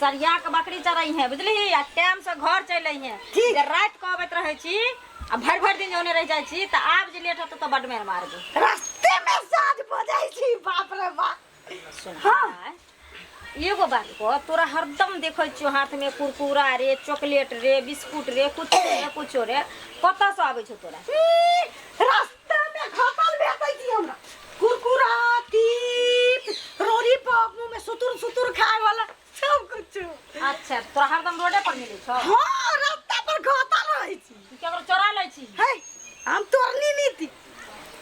सरिया के बकरी चरई है बुझली आ टाइम से घर चल आई है ठीक। जे रात के अबैत रहे छी आ भर भर दिन जौने रह जाय छी त आब जे लेट होत त बड मेर मार दे रास्ते में साँझ भऽ जाइ छी बाप रे बाप सुन हाँ। भाय, एगो बात को तोरा हरदम देखै छियो हाथ में कुरकुरा रे चॉकलेट रे बिस्कुट रे कुछ रे कुछो रे कतऽ से आबै छौ तोरा ई, रास्ते अच्छा तोरा हरदम रोडे पर मिलै छौ हाँ रास्ता पर घाटा रहै छी तू केकरो चोरा लै छी है हम तोरनी नीति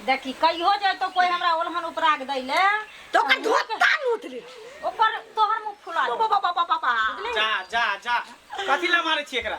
देखी कहियो जे तो कोई हमरा ओलहन उपराग दै ले तो ओकर धोता लूट ले ओकर तोहर मुंह फुला दे बाबा बाबा बाबा जा जा जा कथी ला मारै छी एकरा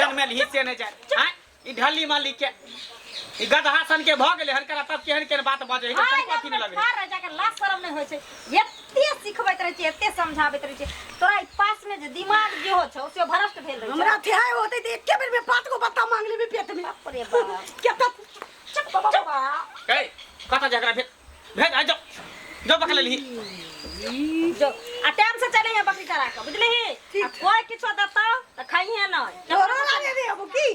जन्मे ली से नहीं जाए हाँ? ई ढली माली के ई गदहा सन के भ गेले हन करा तब केहन केहन बात बजे है हाय, तब कथी न लगे ठाढ़ रह जाकर लाज शरम नहीं होय छै एते सिखबैत रहै छै एते समझाबैत रहै छै तोरा ई पास में जे दिमाग जे हो छौ से भ्रष्ट भेल रहै हमरा छै थे होते ते एके बेर में पात को पत्ता मांग लेबे पेट में बाप रे बाप केता चुप बाबा कहे कथा झगड़ा भेल भेज आ जाओ जाओ पकड़ ली जो आ टाइम से चले है बकरी चरा के बुझली ही ठीक। आ कोई किछो देता त खाई है ना तोरो लागे रे अब की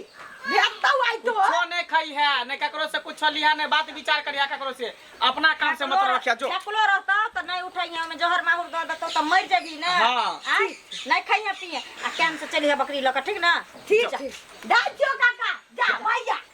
भेटता आई तो कुछो नहीं खाई है नहीं ककरो से कुछ लिया नहीं बात विचार करिया ककरो से अपना काम से मतलब रखिया जो फेकलो रहता त नहीं उठाई है में जहर माहुर दे देता त मर जेबी ना हाँ। आ नहीं खाई है पिए आ टाइम से चली है बकरी लके ठीक ना ठीक ठीक जा जो काका जा भैया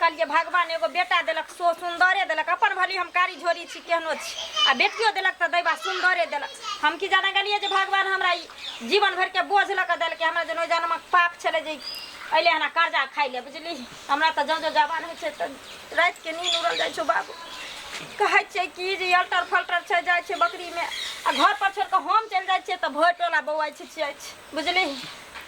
कल जे भगवान एगो बेटा देलक सो सुंदरे देलक अपन भली हम कारी झोरी छी केहनो छी आ बेटियो देलक तऽ दैबा सुंदरे देलक हम की जाने गेलिए जे भगवान हमरा ई जीवन भर के बोझ लऽ कऽ देलकै हमरा जनो जन्मक पाप छलै जे अइले हना कर्जा खाइ ले बुझली हमरा तऽ जँ जँ जवान होइ छै तऽ राति के नींद उड़ल जाइ छौ बाबू कहै छै कि जे अल्टर फल्टर छै जाइ छै बकरी में आ घर पर छोड़ कऽ हम चलि जाइ छियै तऽ भोर टोला बौआइ छिछियाइ छै बुझली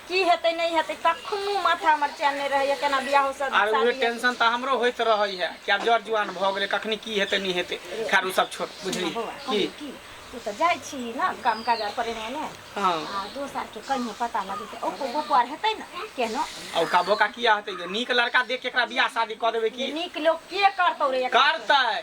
की हेतै नहि हेतै कखनो माथा हमर चैन नहि रहैए केना बियाह हो सब आर उहे टेंशन तऽ हमरो होइत रहै है कि आब जर जुआन भऽ गेलै कखनी की हेतै नहि हेतै खैर ओ सब छोड़ बुझली की की तू तऽ जाइ छी ने काम काज आर करे ने हँ आ दोस्त आर के कहीं पता लगे तऽ ओको गोपो आर हेतै ने केहनो आ ओका बोका किया हेतै गे नीक लड़का देख के एकरा बियाह शादी कऽ देबै की नीक लोग के करतौ रे एकरा? करतै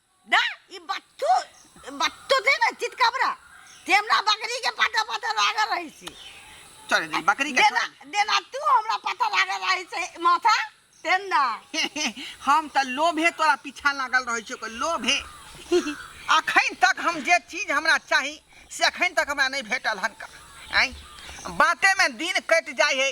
ना ई बत्तू बत्तू थे ना चित कबरा ते हमरा बकरी के पता पता लागल रही छी चल दे बकरी के देना देना तू हमरा पता लागल रही से माथा तेन ना हम त लोभे तोरा पीछा लागल रहै छै लोभे अखन तक हम जे चीज हमरा चाही से अखन तक हमरा नहीं भेटल हन का आँय बातेमे दिन कटि जाइ है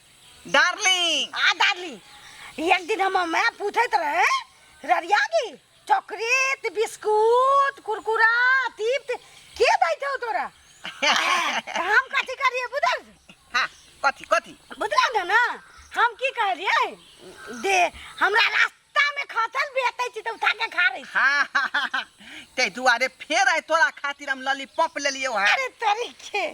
डार्लिंग आ डार्लिंग एक दिन हम मैं पूछत रहे ररिया की चॉकलेट बिस्कुट कुरकुरा तीप्त के दैत हो तोरा हम कथी करिए बुझल हाँ कथी कथी बुझल ना हम की कह रहिए दे हमरा रास्ता तामे खसल बेतै छी तऽ उठा के खा रही हाँ हाँ, हाँ, हाँ। ते दुआरे फेर आइ तोरा खातिर हम लॉलीपॉप ले लियो है अरे तोरी के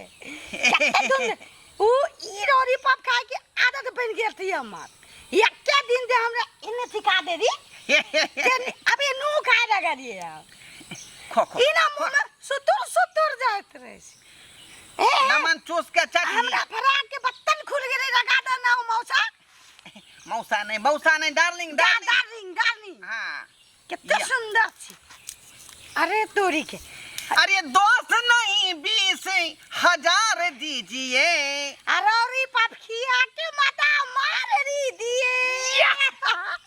कते दिन उ ई रोरी पप खाए के आदत बन गेल थी हमर एके दिन दे हमरा इने सिखा दे दी ते अबे नू खाए लगा दिए हम खो खो इना मुंह में सुतुर सुतुर जात रहे छी। ए, नमन चूस के चटनी हमरा भरा के बत्तन खुल गेलै लगा दे ना मौसा मौसा नै मौसा नै डार्लिंग डार्लिंग डार्लिंग डार्लिंग हां केते सुंदर छी अरे तोरी के अरे दस नहीं बीस हजार दीजिए अरे पापखी आटे माता मार री दिए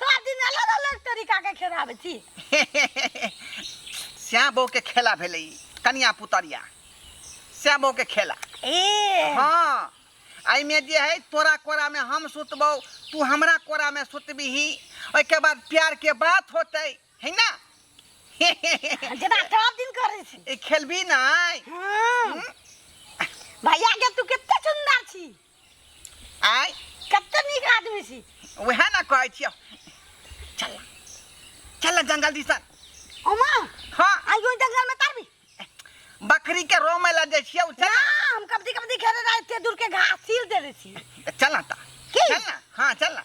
सात दिन अलग अलग तरीका के खेलाबै छी श्याम बहू के खेला भेलै ई, कनिया पुतरिया श्याम बहू के खेला ए हाँ एहिमे जे है तोरा कोरा में हम सुतबौ तू हमरा कोरा में सुतबिही ओहिके बाद प्यार के बात होते है ना जेना सब दिन करै छी ई खेलबी नहीं हम्म। भैया के तू कते सुंदर छी आय कते नीक आदमी छी वएह ने कहै छियौ चल चल जंगल दिसन ओमा हाँ आई ओइ जंगल में तरबी बकरी के रो में लग छियौ ना चल हम कबड्डी कबड्डी खेले रहे एते दूर के घास छील देले छी चल ना ता की? चल ना हाँ चल ना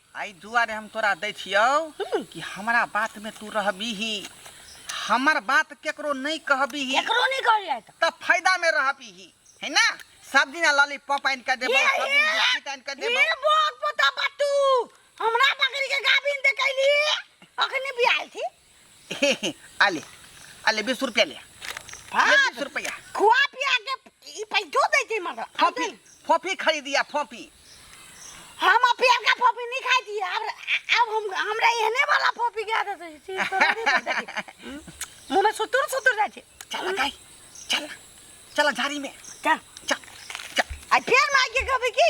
एहि दुआरे हम तोरा दै छियौ कि हमरा बातमे तू रहबिही हमर बात केकरो नहि कहबिही केकरो नहि कहलियै तऽ तऽ फायदामे रहबिही है ना सब दिना लॉलीपॉप आनि कऽ देबौ सब दिन बिस्किट आनि कऽ देबौ ये बहुत पता बात तू हमरा पकड़ के गाभिन दे कैली अखनी बियाल थी आले आले बीस रुपया ले ये बीस रुपया खुआ पिया के ई पैसो दै छै मगर फोफी फोफी खरीदिया फोफी हम अपियर का फोफी नहीं खाई थी अब अब हम हमरा एहने वाला फोफी के आदत है छी तोरा नहीं पता छी। मुंह में सुतुर सुतुर जाय छै चल गाय चल चल झाड़ी में चल चल चल आ फेर माय के कहबे की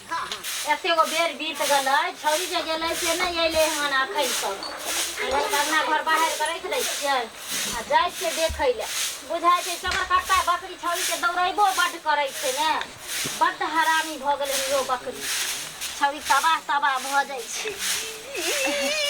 एतेगो बेर बीत गेलै छौड़ी जे गेलै से नहि अयलै हन एखन तक एलै तऽ अंगना घर बाहर कऽ राखि दै छियै आ जाइ छियै देखै लए बुझाइ छै चबरकट्टा बकरी छौड़ीके दौड़ैबो बड्ड करै छै ने बड्ड हरामी भऽ गेलै इहो बकरी छौड़ी तबाह तबाह भऽ जाइ छै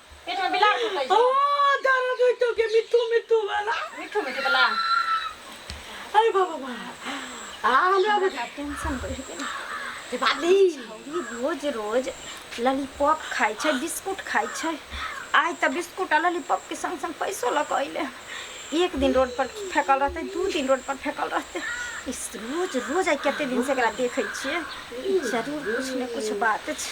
पेट में बिलार सुतै छै ओ दाना दो तो के मिट्टू मिट्टू वाला मिठू मिठू बला अरे बाबा बा आ हमरा बुझा टेंशन बढ़ गेल के बाली छौरी रोज रोज लॉलीपॉप खाइ छै बिस्कुट खाइ छै आइ तऽ बिस्कुट आ लॉलीपॉप के संग संग पैसो लऽ कऽ अइले एक दिन रोड पर फेकल रहतै दू दिन रोड पर फेकल रहतै इस रोज रोज आइ कते दिन से एकरा देखै छियै ई जरूर कुछ ने कुछ बात छै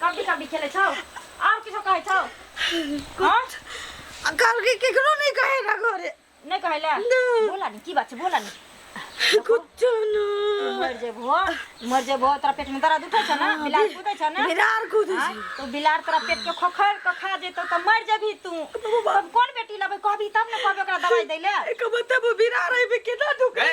कबड्डी कबड्डी खेले छौ और किछो कहै छौ हां कल के केकरो नहीं कहेगा घरे नहीं कहैला बोला नहीं की बात छै बोला नहीं कुछ ना मर जेबो मर जेबो तोरा पेट में दर्द उठै छ ना बिलार कूदै छ ना बिलार कूदै छ तो बिलार तोरा पेट के खोखर के खा जेतो त मर जेबी तू कोन बेटी लबै कहबी तब ने कहबे ओकरा दवाई दैले एक बताबो बिलार है बे केना दुखै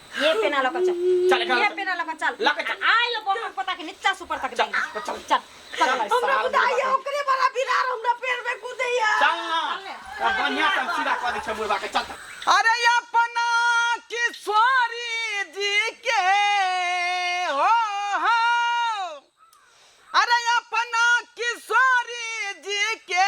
ये पेना लगा चल चल ये पेना लगा चल लगा चल आय लो को हम पता के नीचा सुपर तक चल चल चल हमरा बुझाइए ओकरे वाला बिरार हमरा पेड़ में कूदैया चल ना अब बढ़िया से हम सीधा कर दै छै मुर्गा के चल अरे अपना किशोरी जी के हो हो अरे अपना किशोरी जी के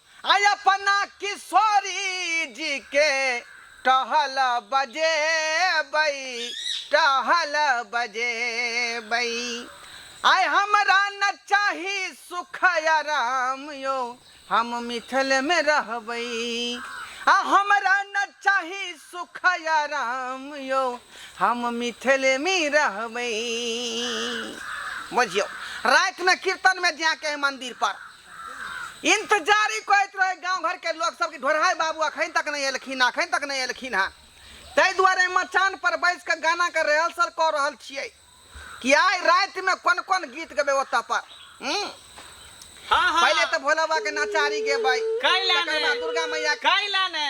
आ अपना किशोरी जी के टहल बजेबै टहल बजेबै आय हमरा न चाही सुख आराम यो हम मिथिल में रहबै आ हमरा न चाही सुख आराम यो हम मिथिल में रहबै बुझियौ रातिमे कीर्तनमे जाके मन्दिर पर इन्तजारी करैत रहै गाँव घरके लोक सब कि ढोरहाइ बाबू अखन तक नहि एलखिन अखन तक नहि एलखिन हँ ताहि दुआरे मचान पर बैस कऽ गानाके रिहर्सल कऽ रहल छियै कि आइ रातिमे कोन कोन गीत गेबै ओतऽ पर हूँ हाँ हाँ पहिले तऽ भोला बाबा के नचारी गेबै काल्हि तकर बाद दुर्गा मैया काल्हि ने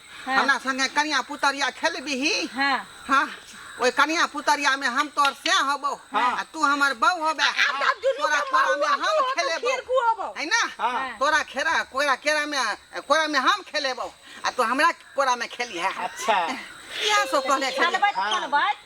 हाँ। हमरा संगे कनिया पुतरिया खेलबिही हाँ हाँ ओए कनिया पुतरिया में हम तोर से होबो हाँ। आ तू हमर बहू होबे तब दुनू तोरा के कोरा में महुआ हम तू होबे, खेलेबो खीर कू होबो। है ना हाँ। तोरा खेरा कोरा केरा में कोरा में हम खेलेबो आ तू हमरा कोरा में खेली है अच्छा इएह सब कहले खेलबै खेलबै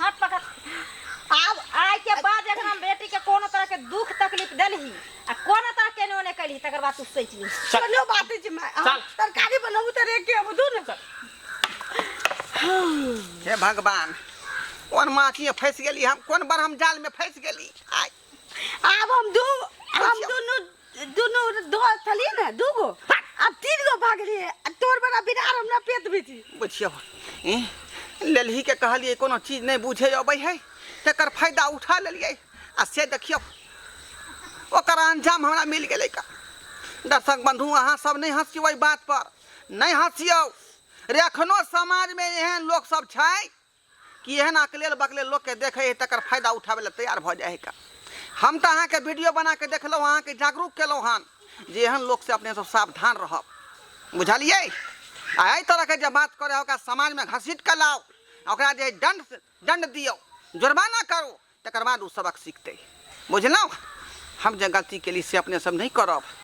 हाथ पकड़ आब आइ के बाद अगर हम बेटी के कोनो तरह के दुख तकलीफ देलही आ कोनो तरह के ओने कैलही तकर बाद तू सोच ली चल। कोनो बात नहीं छै माय चल। तरकारी बनाबू तऽ रेके अब दू ने हे भगवान कोन माछी में फंस गेली हम कोन बार हम जाल में फंस गेली आय आब हम दू हम दुनू दुनू दोस्त छलिए ने दू गो अब तीन गो भाग लिए तोर बड़ा बिरार हमरा पेट में थी बुझियो ए ललही के कहलिए कोनो चीज नहीं बुझे अबै है तकर फायदा उठा लेलिए आ से देखियो ओकर अंजाम हमरा मिल गेलै का दर्शक बंधु अहाँ सब नहीं हंसियो बात पर नहीं हंसियो रे एखनो समाज में एहन लोग सब छै कि एहन अकलेल बकलेल लोक के देखै है तकर फायदा उठाबै लए तैयार भऽ जाइ है का हम तऽ अहाँके वीडियो बना के देखलहुँ अहाँके जागरूक केलहुँ हन जे एहन लोक से अपने सब सावधान रहब बुझलियै आ एहि तरह के जे बात करे ओकरा समाज में घसीट के लाओ ओकरा जे दंड दंड दियो जुर्माना करू तकर बाद ओ सबक सीखते बुझलहुँ हम जे गलती केली से अपने सब नहि करब